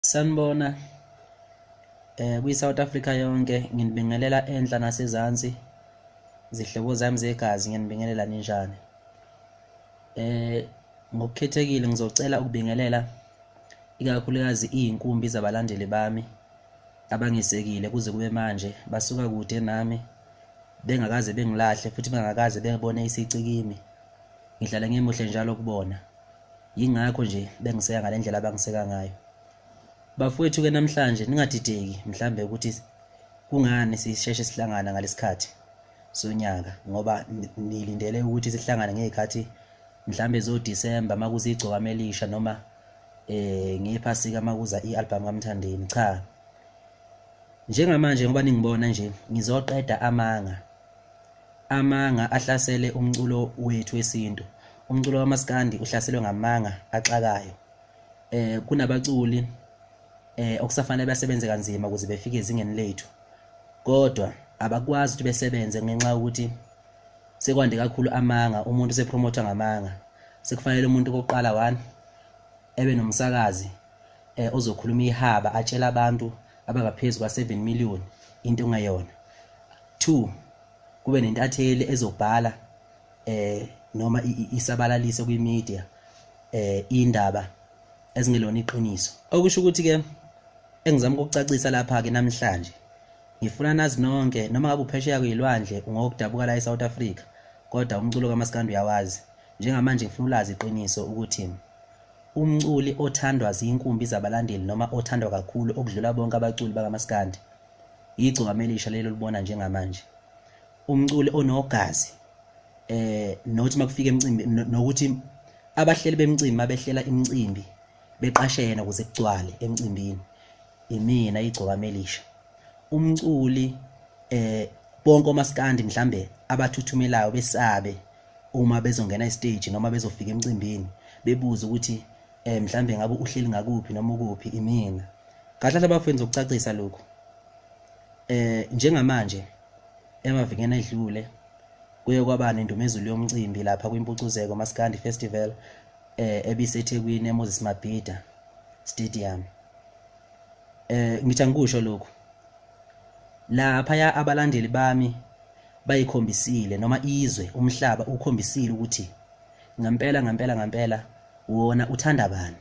Sanibona. Eh kwi South Africa yonke nginibingelela enhla nasezansi. Zihlobo zami zegazi nginibingelela ninjani? Eh ngokukhethekile ngizocela ukubingelela ikakhulukazi izinkumbi zabalandeli bami abangisekile kuze kube manje basuka kude nami bengakaze bengilahle futhi bengakaze bengibone isici kimi. Ngihlala ngimuhle njalo kubona. yingakho nje bengiseka ngale ndlela abangiseka ngayo bafowethu-ke namhlanje ningadideki mhlawumbe ukuthi kungani sisheshe sihlangana ngalesikhathi sonyaka ngoba nilindele ukuthi sihlangane ngezikhathi mhlambe zo December makuza igcokama elisha noma eh ngephasika makuza ialbum kaMthandeni cha njengamanje ngoba ningibona nje ngizoqeda amanga Amanga ahlasele umculo wethu wesintu. Umculo wamaskandi uhlaselwe ngamanga axakayo. Eh kunabaculi eh okusafanele basebenze kanzima ukuze befike ezingeni lethu. Kodwa abakwazi ukuthi besebenze ngenxa yokuthi sekwande kakhulu amanga, umuntu sepromotha ngamanga. Sekufanele umuntu kokuqala one ebe nomsakazi eh ozokhuluma ihaba atshela abantu abangaphezu kwa7 million into engayona. 2 kube nentatheli ezobhala eh noma isabalalise kwi media eh indaba ezingelona iqiniso okusho ukuthi ke engizama ukucacisa lapha ke namhlanje ngifuna nazi nonke noma ngabe uphesheya kuyilwandle ungokudabuka la eSouth Africa kodwa umculo kaMaskandi uyawazi njengamanje ngifuna ulazi iqiniso ukuthi umculi othandwa zinkumbi zabalandeli noma othandwa kakhulu okudlula bonke abaculi bakaMaskandi Yigciwame elisha lelo libona njengamanje. Umculi onogazi eh nothi makufika emcimbi nokuthi abahleli bemcimbi mabehlela imcimbi beqashe yena ukuze kugcwale emcimbini imina igciwame elisha. Umculi eh bonke omaskandi mhlambe abathuthumelayo besabe uma bezongena estage noma bezofika emcimbini bebuze ukuthi eh mhlambe ngabe uhleli ngakuphi noma ukuphi imina kahle hle bafenza ukucacisa lokhu eh njengamanje emavikeni edlule kuye kwaba nendumezulu yomcimbi lapha kwimpucuzeko maskandi festival eh ebisethekwini emoses mabhida stadium eh ngithi angikusho lokhu laphaya abalandeli bami bayikhombisile noma izwe umhlaba ukhombisile ukuthi Ngampela ngampela ngampela wona uthanda bani?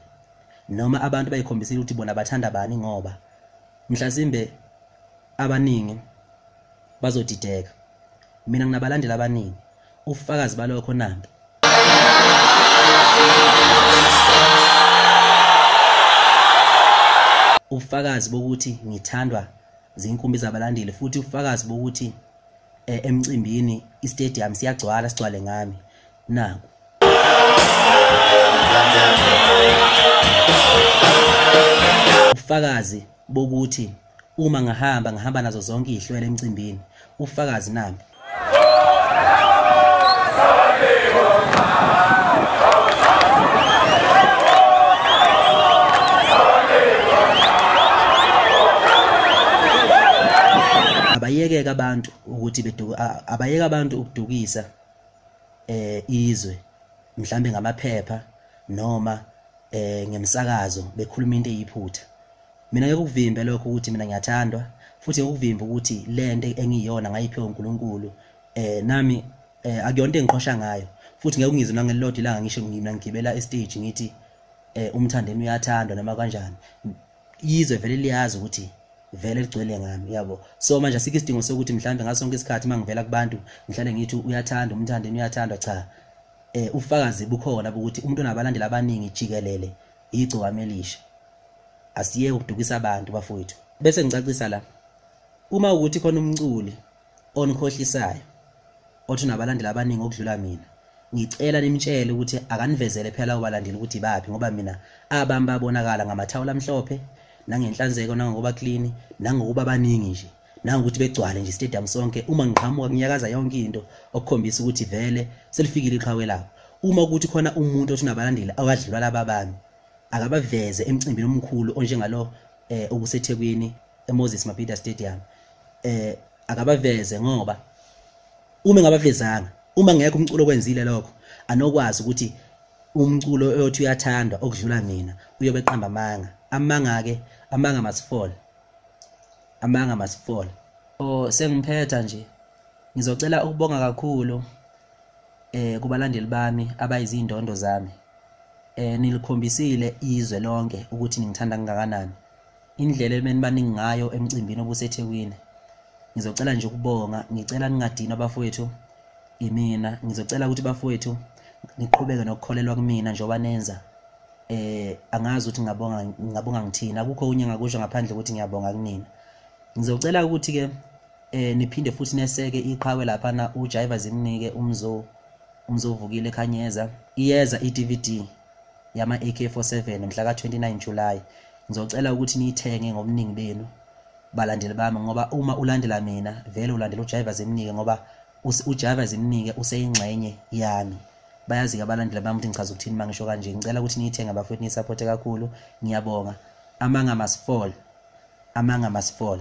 Noma abantu bayikhombisile ukuthi bona bathanda bani ngoba mhlasimbe abaningi bazodideka. Mina nginabalandeli abaningi. Ufakazi balokho nampi. Ufakazi bokuthi ngithandwa zinkumbi zabalandeli futhi ufakazi bokuthi eh, emcimbini istadium siyagcwala sigcwale ngami naku ufakazi bokuthi uma ngahamba ngahamba nazo zonke izihlwele emcimbini ufakazi nami ayekeke abantu ukuthi beduka abayeke abantu ukudukisa eh izwe mhlambe ngamaphepha noma eh ngemsakazo bekhuluma into eyiphutha mina ngekuvimbe lokho ukuthi mina ngiyathandwa futhi ngekuvimbe ukuthi lento engiyona ngayiphiwa uNkulunkulu eh nami eh akuyona into engiqhosha ngayo futhi ngeke ungizwe nangelilodwa ilanga ngisho ngimna ngigibela estage ngithi eh umthandeni uyathandwa noma kanjani izwe vele liyazi ukuthi vele ligcwele ngami uyabo so manje asikho isidingo sokuthi mhlawumbe ngaso sonke isikhathi uma ngivela kubantu ngihlale ngithi uyathanda umthandeni uyathandwa cha eh ufakazi bukhona ukuthi umuntu onabalandeli abaningi jikelele igcokame elisha asiye ukudukisa abantu bafowethu bese ngicacisa la uma ukuthi khona umculi onikhohlisayo othi unabalandeli abaningi okudlula mina ngicela nimtshele ukuthi akanivezele phela lawo balandeli ukuthi baphi ngoba mina abami babonakala ngamathawula amhlophe nangenhlanzeko nangokuba clean nangokuba baningi nje nangokuthi begcwale nje stadium sonke uma ngiqhamuka kunyakaza yonke into okukhombisa ukuthi vele selifikile iqhawe lawo uma ukuthi khona umuntu othi unabalandeli awadlula laba bami akabaveze emcimbini omkhulu onjengalo eh obusethekwini eMoses Mabhida Stadium eh akabaveze ngoba uma engabavezanga uma ngekho umculo kwenzile lokho anokwazi ukuthi umculo oyothi uyathandwa okudlula mina uyobe qamba amanga amanga ke amanga masifole amanga masifole oh sengiphetha nje ngizocela ukubonga kakhulu eh kubalandeli bami abayizindondo zami eh nilikhombisile izwe lonke ukuthi ningithanda kangakanani indlela ebenibaningi ngayo emcimbini obusethekwini ngizocela nje ukubonga ngicela ningadinwa bafowethu imina ngizocela ukuthi bafowethu niqhubeke nokukholelwa kumina njengoba nenza eh angazi ukuthi ngabonga ngabonga ngithini akukho unye ngakusho ngaphandle ukuthi ngiyabonga kunina ngizocela ukuthi ke eh niphinde futhi neseke iqhawe lapha na uJaiva zimnike umzo umzovukile khanyeza iyeza iDVD yama-AK47 mhla ka-29 July. Ngizocela ukuthi niyithenge ngobuningi benu balandeli bami ngoba uma ulandela mina vele ulandela uJaiva Zimnike ngoba uJaiva Zimnike useyingxenye yami. Bayazi-ke abalandeli bami ukuthi ngichaza ukuthini uma ngisho kanje. Ngicela ukuthi niyithenge bafowethu niyisapothe kakhulu. Ngiyabonga. Amanga must fall. Amanga must fall.